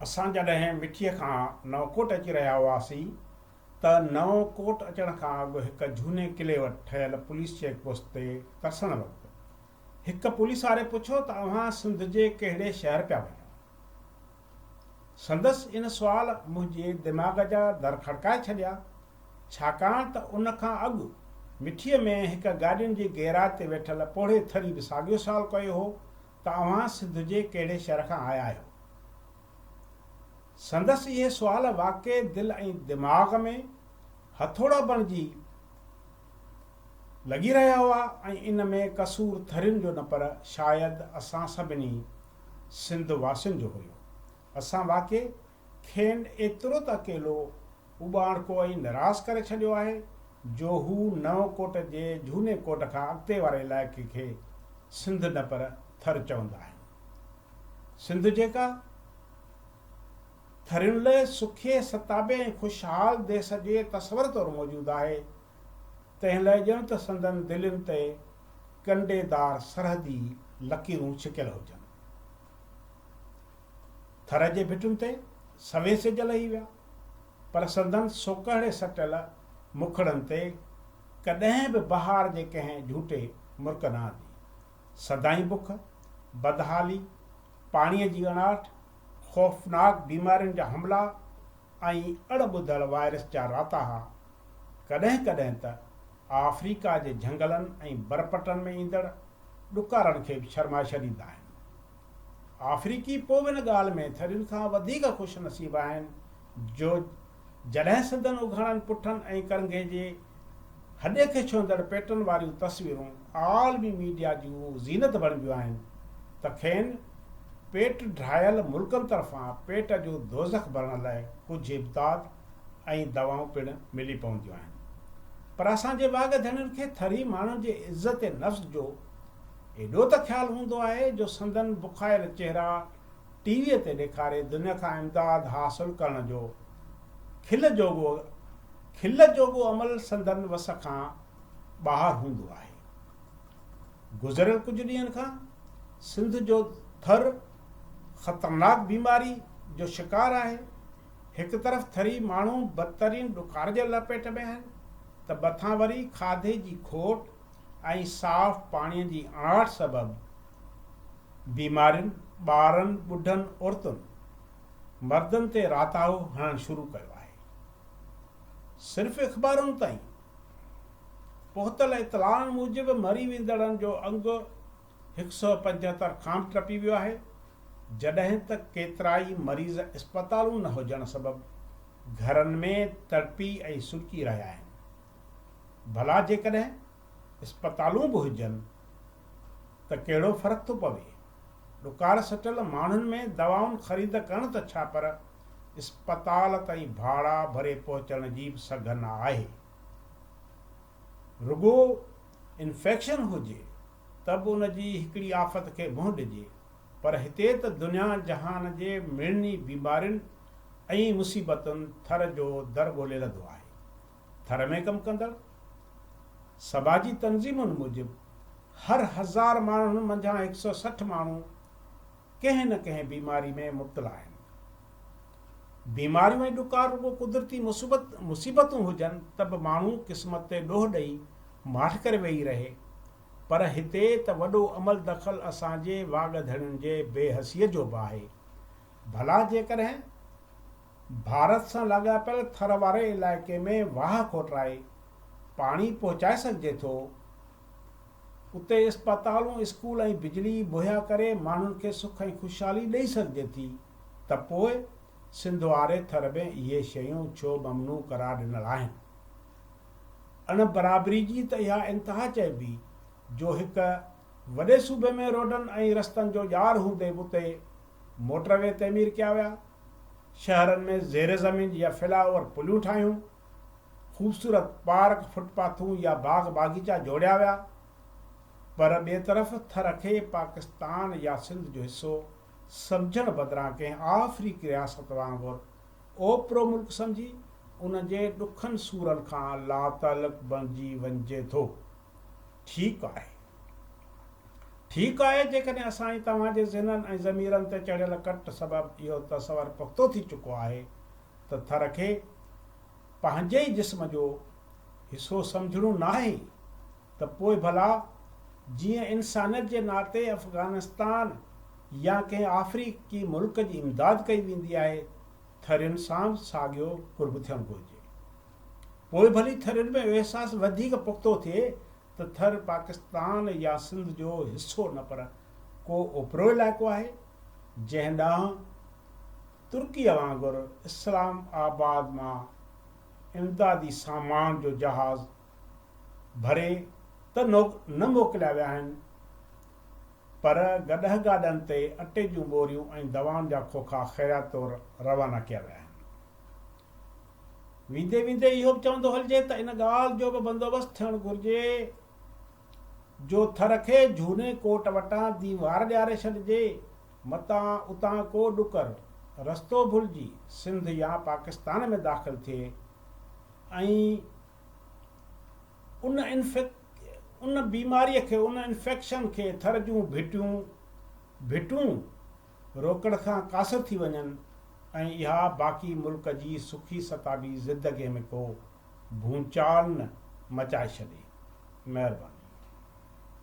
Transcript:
اسان جڏهن مٺيء کان نئونڪوٽ اچي رهيا هئاسين ته نئون ڪوٽ اچڻ کان اڳ هڪ جهوني قلعي وٽ ٺهيل پوليس چيڪ پوسٽ تي ترسڻ وقت هڪ پوليس واري پڇيو ته اوهان سنڌ جي ڪهڙي شهر پيا وڃو؟ سندس ان سوال منهنجي دماغ جا در کڙڪائي ڇڏيا. ڇاڪاڻ ته ان کان اڳ مٺيء ۾ هڪ گاڏين جي گيراج تي ويٺل پوڙهي ٿري به ساڳيو سوال ڪيو هو ته اوهان سنڌ جي ڪهڙي شهر کان آيا آهيو؟ سندس اهي سوال واقعي دل ۽ دماغ ۾ هٿوڙا بڻجي لڳي رهيا هئا ۽ ان ۾ قصور ٿرين جو نه پر شايد اسان سڀني سنڌ واسين جو هيو. اسان واقعي کين ايترو ته اڪيلو اوٻاڻڪو ۽ نراس ڪري ڇڏيو آهي جو هو نئون ڪوٽ جي جهوني ڪوٽ کان اڳتي واري علائقي کي سنڌ نه پر ٿر چوندا آهن. سنڌ جيڪا ٿرين لئه سکي، ستابي ۽ خوشحال ديس جي تصور طور موجود آهي، تنهن لئه ڄڻ ته سندن دلين تي ڪنڊي دار سرحدي لڪيرون ڇڪيل هجن. ٿر جي ڀٽن تي سوين سج لهي ويا، پر سندن سوڪهڙي سٽيل مکڙن تي ڪڏهن به بهار جي ڪنهن جهوٽي مرڪ نه آندي. سدائين بک، بدحالي، پاڻيء جي اڻاٺ، خوفناڪ بيمارين جا حملا ۽ اڻ ٻڌل وائرس جا راتاها، ڪڏهن ڪڏهن ته آفريڪا جي جهنگلن ۽ برپٽن ۾ ايندڙ ڏڪارن کي به شرماشر ايندا آهن. آفريڪي پوء به ان ڳالهه ۾ ٿرين کان وڌيڪ خوش نصيب آهن جو جڏهن سندن اگهاڙن پٺن ۽ ڪرنگهي جي هڏي کي ڇهندڙ پيٽن واريون تصويرون عالمي ميڊيا جون زينت بڻبيون آهن ته کين پيٽ ڊاهيل ملڪن طرفان پيٽ جو دوزخ ڀرڻ لاء ڪجهه امداد ۽ دوائون پڻ ملي پونديون آهن پر اسان جي واڳ ڌڻين کي ٿري ماڻهن جي عزت نفس جو ايڏو ته خيال هوندو آهي جو سندن بکايل چهرا ٽي ويء تي ڏيکاري دنيا کان امداد حاصل ڪرڻ جو کل جوڳو کل جوڳو عمل سندن وس کان ٻاهر هوندو آهي گذريل ڪجهه ڏينهن کان سنڌ جو ٿر خطرناڪ بيماري جو شڪار آهي هڪ طرف ٿري ماڻهو بدترين ڏڪار جي لپيٽ ۾ آهن ته مٿان وري کاڌي جي کوٽ ۽ صاف پاڻي جي اڻاٺ سبب بيمارين، ٻارن، ٻڍن، عورتن، مردن تي راتاهو هڻڻ شروع ڪيو آهي. صرف اخبارن تائين پهتل اطلاعن موجب مري ويندڙن جو انگ هڪ سؤ پنجهتر خام ٽپي ويو آهي، جڏهن ته ڪيترائي مريض اسپتالون نه هجڻ سبب گهرن ۾ تڙپي ۽ سڏڪي رهيا آهن. ڀلا جيڪڏهن اسپتالون به هجن ته ڪهڙو فرق ٿو پوي؟ ڏڪار سٽل ماڻهن ۾ دوائن خريد ڪرڻ ته ڇا پر اسپتال تائين ڀاڙا ڀري پهچڻ جي به سگهه نه آهي. رڳو انفيڪشن هجي ته به ان جي هڪڙي آفت کي منهن ڏجي پر هتي ته دنيا جهان جي مڙني بيمارين ۽ مصيبتن ٿر جو در ڳولي لڌو آهي. ٿر ۾ ڪم ڪندڙ سماجي تنظيمن موجب هر هزار ماڻهن منجهان هڪ سئو سٺ ماڻهو، ڪنهن نه ڪنهن بيماري ۾ مبتلا آهن. بيماريون ۽ ڏڪار رڳو قدرتي مصيبت مصيبتون هجن ته به ماڻهو قسمت تي ڏوهه ڏئي ماٺ ڪري ويهي رهي پر هتي ته وڏو عمل دخل اسان جي واڳ ڌڻين جي بي حسيء جو به آهي. ڀلا جيڪڏهن ڀارت سان لاڳاپيل ٿر واري علائقي ۾ واهه کوٽرائي پاڻي پهچائي سگهجي ٿو اتي اسپتالون، اسڪول ۽ بجلي مهيا ڪري ماڻهن کي سک ۽ خوشحالي ڏئي سگهجي ٿي ته پوء سنڌ واري ٿر ۾ اهي شيون ڇو ممنوع قرار ڏنل آهن؟ اڻ برابري جي ته اها انتها چئبي جو هڪ وڏي صوبي ۾ روڊن ۽ رستن جو ڄار هوندي به اتي موٽر وي تعمير ڪيا ويا، شهرن ۾ زير زمين يا فلائي اوور پليون ٺاهيون، خوبصورت پارڪ، فٽ پاٿون يا باغ باغيچا جوڙيا ويا پر ٻئي طرف ٿر کي پاڪستان يا سنڌ جو حصو سمجهڻ بدران ڪنهن آفريڪي رياست وانگر اوپرو ملڪ سمجهي ان جي ڏکن سورن کان لاتعلق بڻجي وڃجي ٿو. ٺيڪ آهي ٺيڪ آهي جيڪڏهن اسان ۽ توهان جي ذهنن ۽ ضميرن تي چڙهيل ڪٽ سبب اهو تصور پختو ٿي چڪو آهي ته ٿر کي پنهنجي ئي جسم جو حصو سمجهڻو ناهي ته پوء ڀلا جيئن انسانيت جي ناتي افغانستان يا ڪنهن آفريڪي ملڪ جي امداد ڪئي ويندي آهي ٿرين سان به ساڳيو قرب ٿيڻ گهرجي. پوء ڀلي ٿرين ۾ اهو احساس وڌيڪ پختو ٿئي ته ٿر پاڪستان يا سنڌ جو حصو نه پر ڪو اوپرو علائقو آهي جنهن ڏانهن ترڪيء وانگر اسلام آباد مان امدادي سامان جو جهاز ڀري ته نه موڪليا ويا آهن پر گڏهه گاڏن تي اٽي جون ٻوريون ۽ دوائن جا کوکا خيرات طور روانا ڪيا ويا آهن. ويندي ويندي اهو به چوندو هلجي ته ان ڳالهه جو به بندوبست ٿيڻ گهرجي جو ٿر کي جهوني ڪوٽ وٽان ديوار ڏياري ڇڏجي. متان اتان ڪو ڏڪر رستو ڀلجي سنڌ يا پاڪستان ۾ داخل ٿئي ۽ ان ان بيماريء کي، ان انفيڪشن کي ٿر جون ڀٽيون، ڀٽون، روڪڻ کان قاصر ٿي وڃن ۽ اها باقي ملڪ جي سکي ستابي زندگيء ۾ ڪو ڀونچال نه مچائي ڇڏي. مهرباني.